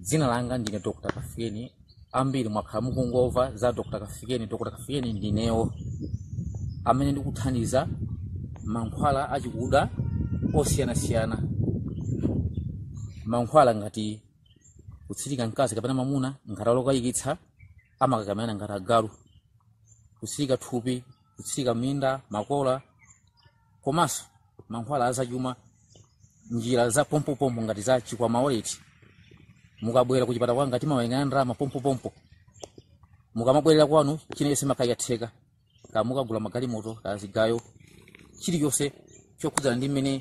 dzina langa ndine dr kafikeni ambiri mwakhala mukungomva za dr kafikeni dr kafikeni ndinewo amene ndikuthandiza mankhwala achikuda osiyanasiyana mankhwala ngati kutsirika mkazi kapena mamuna ngati ali okayikitsa amakakamirana ngati agalu kutsirika thupi kutsirika minda makola komanso mankhwala azachuma njira za pompopompo ngati za chikwama wallet mukabwera kuchipatala kwanga timawerengana ndalama pompopompo mukamabwerera kwanu china chilichonse chimakhala chatheka kaya mukagula magalimoto kaya zigayo chilichonse chokhudzana ndi mmene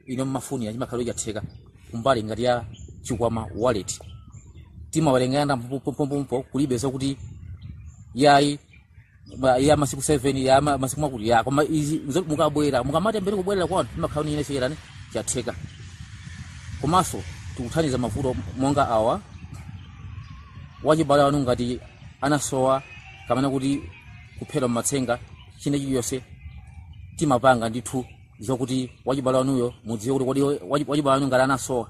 inu mmafunira chimakhala chatheka kumbali ngati ya chikwama wallet timawerengana ndalama pompopompo kulibe zakuti yayi Ba- ya masiku 7 ya ma- masiku akuti ya koma izi nzoti mukabwera mukamati mbwere kubwerera kwanu chimakhala china chilichonse chatheka komanso tikuthandiza mavuto monga awa wachibale wanu ngati anasowa kapena kuti kuphedwa mmatsenga china chilichonse timapanga ndithu zokuti wachibale wanuyo mudziwe kuti kodi wachi- wachibale wanu ngati anasowa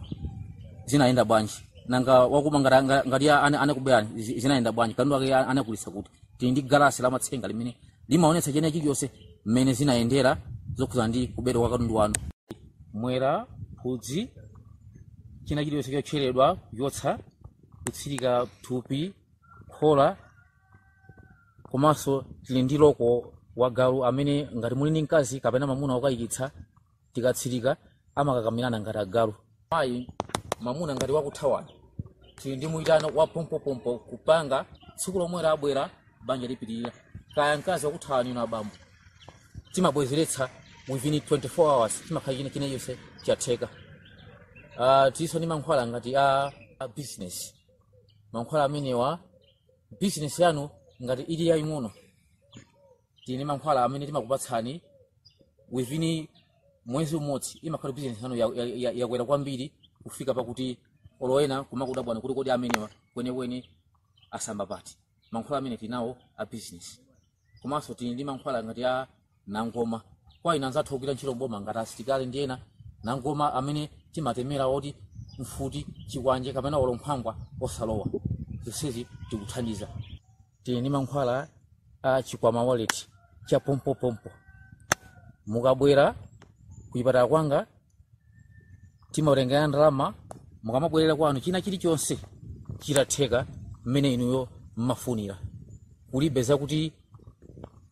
zinayenda bwanji nanga wakuba ngati- ngati anakuberani zinayenda bwanji katundu ake anagulitsa kuti tili ndi galasi la matsenga limene limaonetsa china chilichonse mmene zinayendera zokhudzana ndi kubedwa kwa katundu wanu mwera phudzi china chilichonse chotcheredwa kuchotsa kutsirika thupi khola komanso tili ndi loko wa galu amene ngati muli ndi mkazi kapena mamuna wokayikitsa tikatsirika amakakamirana ngati agalu mayi mamuna ngati wakuthawani tili ndi muyitano wa pompopompo kupanga tsiku lomwelo abwera banja lipitirire kaya mkazi wakuthawani inu abambo timabwezeretsa within 24 hours chimakhala china chilichonse chatheka uh, tilinso ndi mankhwala ngati a, a business mankhwala amenewa business yanu ngati ili yaying'ono tili ndi mankhwala amene timakupatsani within mwezi umodzi imakhala business yanu yakwera kwambiri kufika pakuti olo ena kumakudabwani kuti kodi amenewa kwenikweni asamba pati mankhwala amene tinawo a business komanso tili ndi mankhwala ngati a nangoma kwa ina anzathu ogwira ntchito mboma ngati asitikali ndi ena nangoma amene timatemera oti mfuti chikwanje kapena olo nkhwangwa osalowa zonsezi tikuthandiza tili ndi mankhwala a chikwama wallet cha pompopompo mukabwera kuchipatala kwanga timawerengera ndalama mukamabwerera kwanu china chilichonse chitatheka mmene inuyo mmafunira kulibe zakuti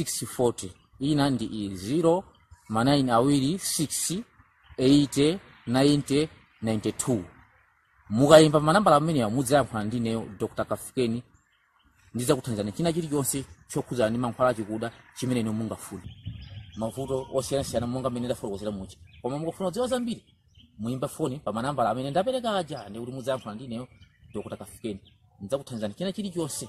640 ina ndi iyi 0 ma 9 awiri 6 80 90 92 mukayimba manambala amenewa mudzayankhula ndi ineyo dr kafikeni ndidzakuthandizani china chilichonse chokhudzana ndi mankhwala achikuda chimene inu mungafune mavuto osiyanasiyana monga mmene ndafotokozera muja koma mukafuna kudziwa zambiri muyimba foni pa manambala amene ndapereka aja ndikuti mudzayankhula ndi ineyo dr kafikeni ndidzakuthandizani china chilichonse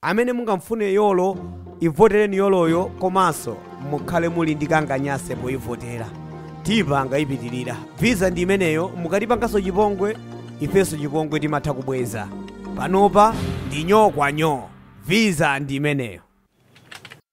Amene mungamfune yolo ivoteleni yoloyo komanso mukhale muli ndi kanganyanse poivotela tipanga ipitilira visa ndi imeneyo mukatipangaso chipongwe ifeso chipongwe timatha kubweza panopa ndi nyoo kwa nyoo visa ndi imeneyo.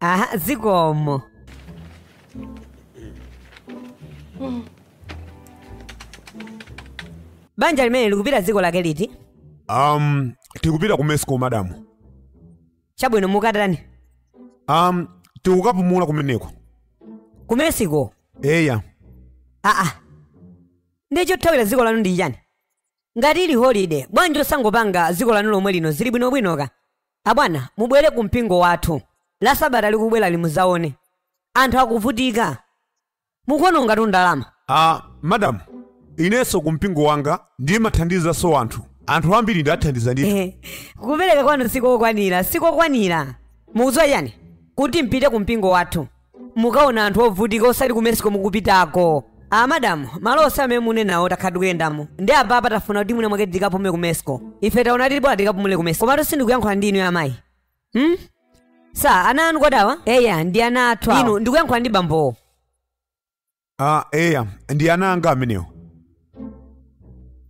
aha zikomo banja limene likupita dziko lake liti um tikupita ku mexico madamu chabwino mukatani um tikukapumula kumeneko ku mexico eya aa nde chothawira dziko lanu ndi chani ngati ili holide bwanji osangopanga dziko lanu lomwe lino zili bwinobwinoka Abwana mubwere ku mpingo wathu la sabata likubwelali muzaone. Anthu akuvutika. Mukuonongatu ndalama. Madam inenso ku mpingo wanga ndimathandizanso anthu. Anthu ambiri ndathandiza ndithu. Eh, Kupereka kwanu sikokwanira, sikokwanira. Mukudziwa chani? Kuti mpite ku mpingo wathu. mukaona anthu ovutika osati ku mexico mukupitako a madam malo onse amene munenawo takhala tikuyendamo ndi apapa tafuna kuti mwina mwake tikapumule ku mexico ife taona kuti bola tikapumule ku mexico komatu sindikuyankhula ndi inu ya amayi hmm? sa ana anu okudawa eya ndi ana athu awo. inu ndikuyankhula ndi bambowo a eya ndi ana anga amenewa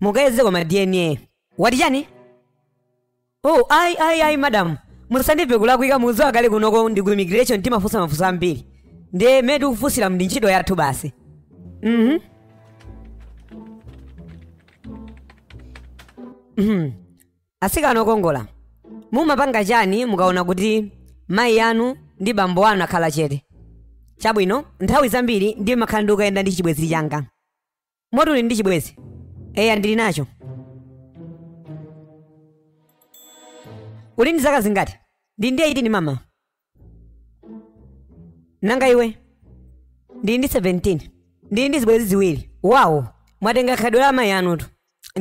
mukayeze kwa ma dna wati chani oh ayi ayi ayi madam musandimve kulakwika mukudziwa kale kunoko ndi ku immigration timafunsa mafunso ambiri ndiye mmene tikufunsira ndi ntchito yathu basi mhm Mhm. Atsikana okongola, mumapanga chani mukaona kuti mayi anu ndi bambo anu akhala chete? Chabwino, nthawi zambiri ndimakhala ndikuyenda ndi chibwenzi changa. Moti uli ndi chibwenzi? Eya ndili nacho. Uli ndi zaka zingati? Ndili ndi 18 mama. nanga iwe ndili ndi 17 ndili ndi zibwenzi ziwiri wawo mwatenga khalidwe la amayi anutu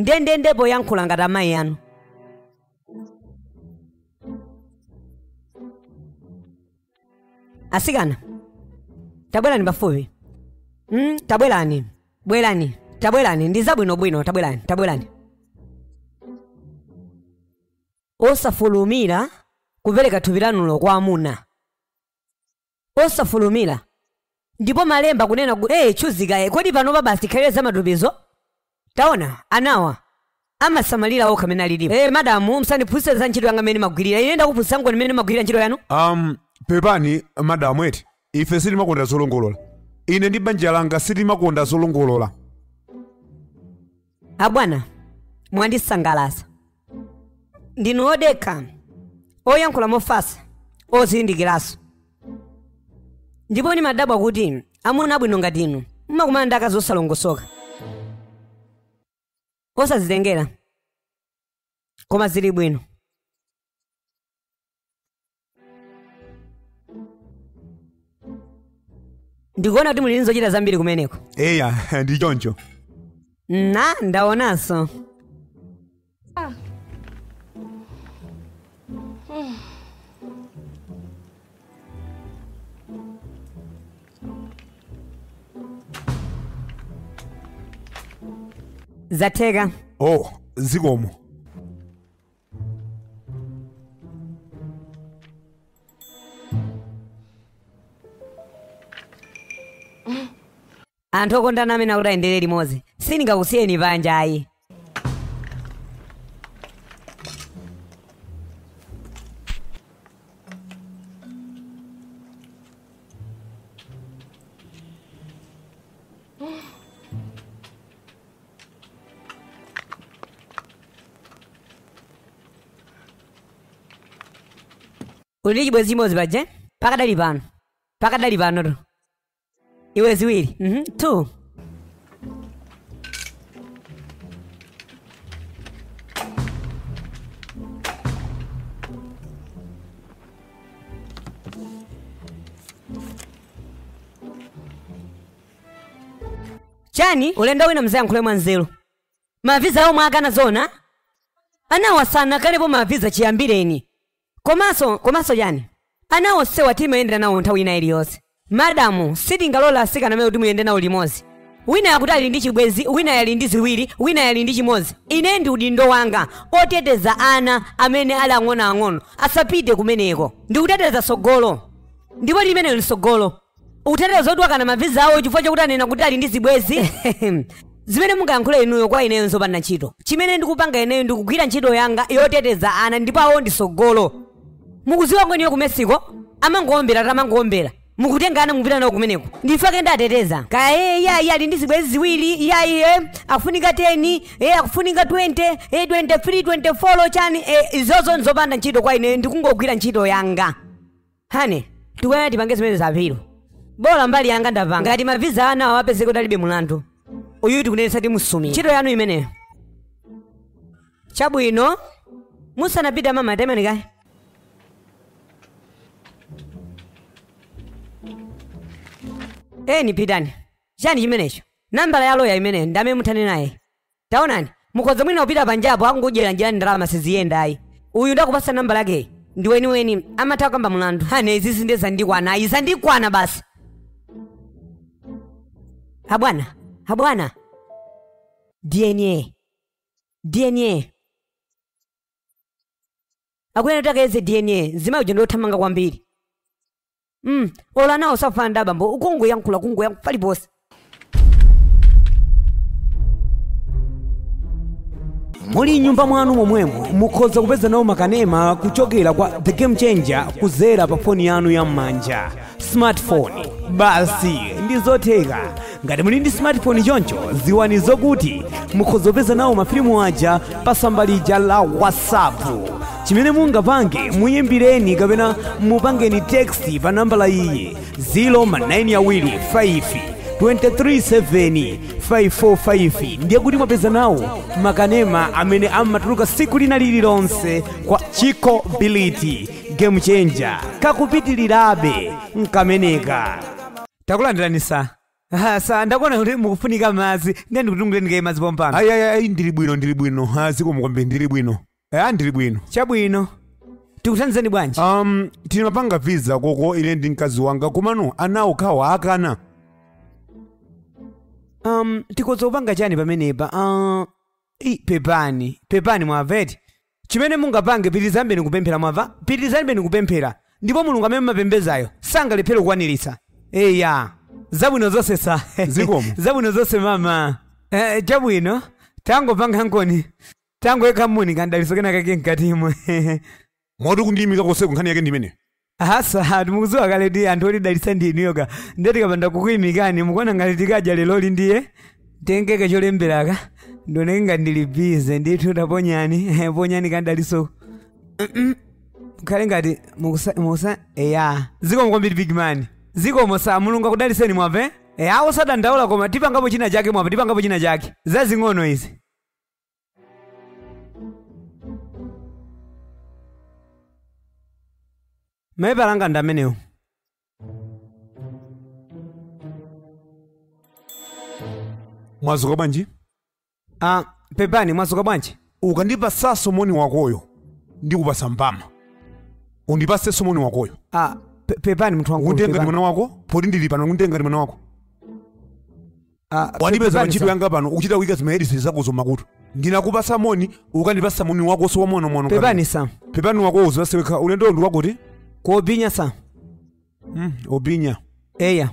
ndendende poyankhula ngati amayi anu atsikana tabwerani pafupi mm, tabwerani bwerani tabwerani ndi zabwinobwino tabwerani tabwerani Osafulumira kupereka thupi lanulo kwa amuna. Osafulumira. Ndipo malemba akunena kuti, hey, tchuzi kaye, kodi panopa basi tikhalire za matupizo? Taona, anawa amasamalira okha amene alilipo. Hey, madamu, msandiphunzitse za ntchito yanga imene ndimagwirira. Ine ndakuphunzitsankoni mmene mumagwirira ntchito yanu? Um, pepani, madamu eti. Ife sitimakonda zolongolola. Ine ndi banja langa sitimakonda zolongolola. abwana mwandisangalatsa ndinu odekha oyankhula mofasa ozindikiranso ndipo ndimadabwa kuti amuna abwino ngati inu mumakumana ndi akazi osalongosoka osazitengera koma zili bwino ndikuona kuti muli ndi zochita zambiri kumeneko eya ndi choncho na ndaonanso zatheka oh zikomo anthu okondana amene akuti ayendere limodzi sindingakusiyeni panja ayi uli ndi chibwezi chimodzi paja pakadali pano pakadali panotu iwe ziwiri mhm, two chani ulendo wina mzayankhule mwanzeru maviza omwe akana zona anawo sanakanepo maviza chiyambireni komanso komanso chani ana onsewa timayendera nawo nthawi ina iliyonse madamu sitingalole asikana amene akuti muyende nawo limodzi wina akuti ali ndi chibwenzi wina ali ndi ziwiri wina ali ndi chimodzi ine ndi udindo wanga oteteza ana amene ali ang'onoang'ono asapite kumeneko ndikuteteza sogolo ndipo limenelo ndi sogolo utatero zoti wakana maviza awo chifukwa chakuti anena kuti ali ndi zibwezi zimene mungayankhule inuyo kwa ineyo nzopanda ntchito chimene ndikupanga ineyo ndikugwira ntchito yanga yoteteza ana ndipo ana ndi tsogolo mukuziwa ngoniyo ku mexico amangowombera tamangowombera mukutenga ana mupita nawo kumeneko nchifukwa chake ndateteza kaya e yayi ali ndi zibwezi ziwiri iyayi e akufunika 10 e akufunika 20 e 23 24 chani e izozo nzopanda ntchito kwa ineyo ndikungogwira ntchito yanga Honey, tikuyenera tipange zimenezi apilo. Bola mbali yanga ndapanga. Nkhani ya maviza ana awo apezeke kuti alibe mlandu. Uyu tikunenetsa timusumira. Ntchito yanu imeneyo. Chabwino. Musanapita mama atemeni kaye. Inu pitani. Chani chimenecho? Nambala ya loya imeneyo nde muthane naye. Taonani, mukhoza mwina kupita panjapo akungodyera njira ndalama siziyenda ayi. Uyu ndakupatsa nambala yakeyi, ndi weniweni, amatha kukamba mulandu. Honey izizi ndiye zandikwana ayi, zandikwana basi. Abwana, abwana. DNA. DNA. Akuyenera kuti akayeze DNA, mzimayi uja ndiothamanga kwambiri. mm. olo anawo safana ndi abambo ukungoyankhula kungoyankhula paliponse muli m'nyumba mwanu momwemo mukhoza kupeza nawo makanema kuchokera kwa the game changer kuzera pa foni yanu ya m'manja smartphone basi ndi zotheka ngati muli ndi smartphone choncho ziwani zokuti mukhozopeza nawo mafilimu aja pa tsamba lija la whatsapp chimene mungapange muyimbireni kapena mupangeni text pa nambala iyi 0 ma 9 awiri 5 237 ndiye kuti mwapeza nawo makanema amene amatuluka siku lina lililonse kwa chiko bility game changer kakupitirirabe nkameneka takulandirani sa Ah, sa ndakuona kuti mukufunika madzi ndiye ndikutunguleni kaye madzi pompano ayi ayi ayi ndili bwino ndili bwino ha zikomo kwambiri ndili bwino eya ndili bwino chabwino tikuthandizeni bwanji um tinapanga visa koko ine ndi mkazi wanga komano ana okhawa akana um tikhoza kupanga chani pamenepa uh, i pepani pepani mwaveti Chimene mungapange, pitirizanibeni kupemphera, mwamva? pitirizanibeni kupemphera, ndipo Mulungu amene mumapembezayo sangalephere kukwaniritsa. Eya. Zabwino zonse sa. Zikomo. Zabwino zonse mama. Eh, chabwino. Tangopanga nkoni. Tangoyika muno kandalinso kena kake mkatimo. Moti kundiyimika konseku nkhani yake ndi imeneyo. Ah sa hatu mukuziwa kale ndi anthu olidalitsa ndi inuyo ka ndiye tikapanda kukuyimikani mukuona ngati tikadya leloli ndiye tengeke cholemberaka ndioneke ngati ndili bizi ndithu taponyani eh, ponyani kandalamaso Mm-mm. mukhale ngati mukusa mukusa eya zikomo kwambiri big man zikomo sa mulungu akudaliseni mwamve eya osadandaula koma tipangapo china chake mwamve tipangapo china chake zazing'ono izi mayi phalanga ndi amenewo mwazuka bwanji ah, pepani mwazuka bwanji ukandipasaso moni wakoyo ndikupasa mbama undipaseso moni wakoyo ah, pe- pepani munthu wangu unditenga ngati mwana wako poti ndili pano unditenga ngati mwana wako wandipeza pa ntchito yanga pano ukuchita kuyika zimahedifoni zakozo m'makutu ndinakupasa moni ukandipasa moni wakoso wamwanomwano pepani sa pepani wako uzaseweka ulendo ndi wakuti kuobinya sa mm, obinya eya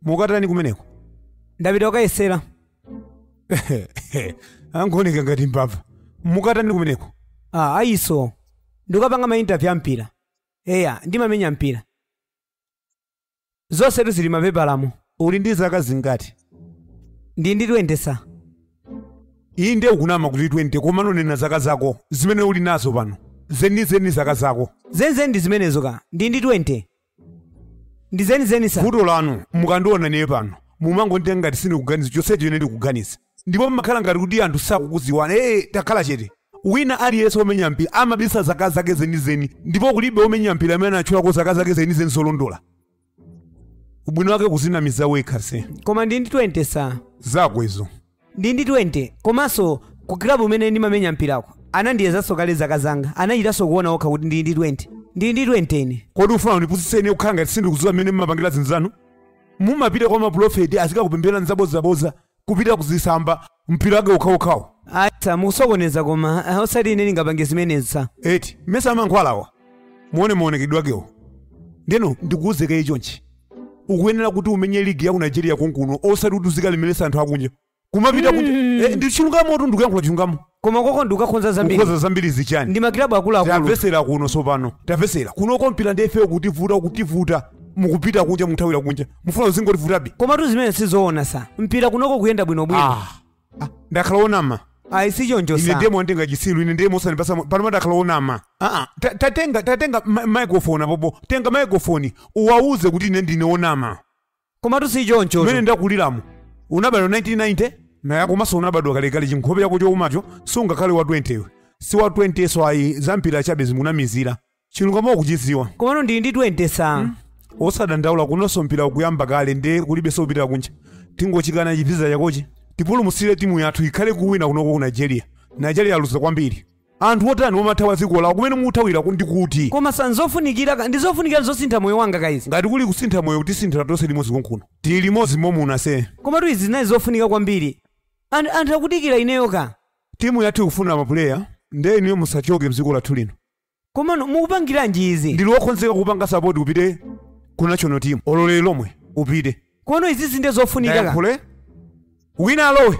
mukatani kumeneko ndapita ukayesera akungooneka ngati mbava mukatani kumeneko ah, ayi sa ndikapanga mainterview a mpira eya ndimamenya mpira Zonsetu zili mapepalamo. Uli ndi zaka zingati? Ndili ndi 20 sir. Ndiye ukunama kuti 20 komano nena zaka zako zimene uli nazo pano. Zenizeni zaka zako. Zenizeni ndi zimenezo ka. Ndili ndi 20. Ndi zenizeni sir. Vuto lanu mukandiona ineyo pano mumangonditenga ngati sindikuganiza chonsecho ine ndikuganiza. ndipo pamakhala ngati kuti anthu sakukuziwani ee takhala chete wina aliyense womenya mpira amabisa zaka zake zenizeni ndipo kulibe womenya mpira amene anatchulako zaka zake zenizeni zolondola ubwino wake kuzinamiza wekha se koma ndili ndi 20 sa zako izo ndili ndi 20 komanso ku klabu kumene ndimamenya mpirako anandiyezanso kale zaka zanga anachitanso kuona okha kuti ndili ndi 20 ndili ndi 20 ine kodi mufuna mundipusitse kukhala ngati sindikudziwa mmene mumapangira zinthu zanu mumapita kwa mapulofeti azikakupemphererani zabodzabodza kupita kuzisamba mpira wake ukhawukhawu ayi sa mukusokoneza koma ah, osati ine ndingapange zimenezi sa eti mesa amankhwalawa muone maonekedwe akewo ndeno ndikuuze kaye chonchi ukuyenera kuti umenye ligi ya ku nigeria konkuno osati kuti uzikalemeresa anthu akunja kumapita kunja Eh, ndi chilungamo tu ndikuyankhula chilungamo koma koko ndikukakhoza zambiri kukhoza zambiri za chani ndi makilabu akuluakulu tamvesera kuno sopano tamvesera kuno kumpira ndi ifeyo kutivuta kutivuta mukupita kunja mukuthawira kunja mufuna uzingotivutabe komatu zimenezo sizoona sa mpira kunoko ukuyenda bwinobwino Ah, ah, ndakhala onama ayi si choncho ine sa ndemo ndingati chisilu ine ndemo sanipasa panopa ndakhala onama Ah, ah, ta- tatenga tatenga ma- microphone apopo tenga microphone uwauze kuti ine ndine onama Komatu si choncho. Mmene ndakuliramu. Unabadwa 1990? Naya komanso unabadwa kalekale chinkhope chako choumacho sungakhale wa 20 iwe. Si wa 20 so ayi zampira chabe zimunamizirani. Chilungamo ukuchidziwa. Komano ndili ndi 20 sa. Osadandaula kunonso mpira ukuyamba kale nde kulibenso kupitira kunja. Tingochikana chiphaso chakochi. utipulumutsire timu yathu ikhale kuwina kunoko ku Nigeria. Nigeria yaluza kwambiri. Anthu otani omathawa dziko lawo kumene ukuthawirako ndi kuti? Koma sir nzofunikira ka, ndi zofunikira zosintha moyo wanga ka izi. Ngati kuli kusintha moyo utisinthira tonse limodzi konkuno. Tili limodzi omuna sir. Komatu izi zinali zofunika kwambiri. An anthu akudikira ineyo ka. Timu yathu ikufuna mapuleya nde inuyo musachoke mdziko lathu lino. Komano mukupangiranji izi? Ndili wokhonzeka kukupanga sapoti upite ku national team olo lero lomwe upite. Komano izizi nde zofunika ka. Ndayankhule? Wina alowe.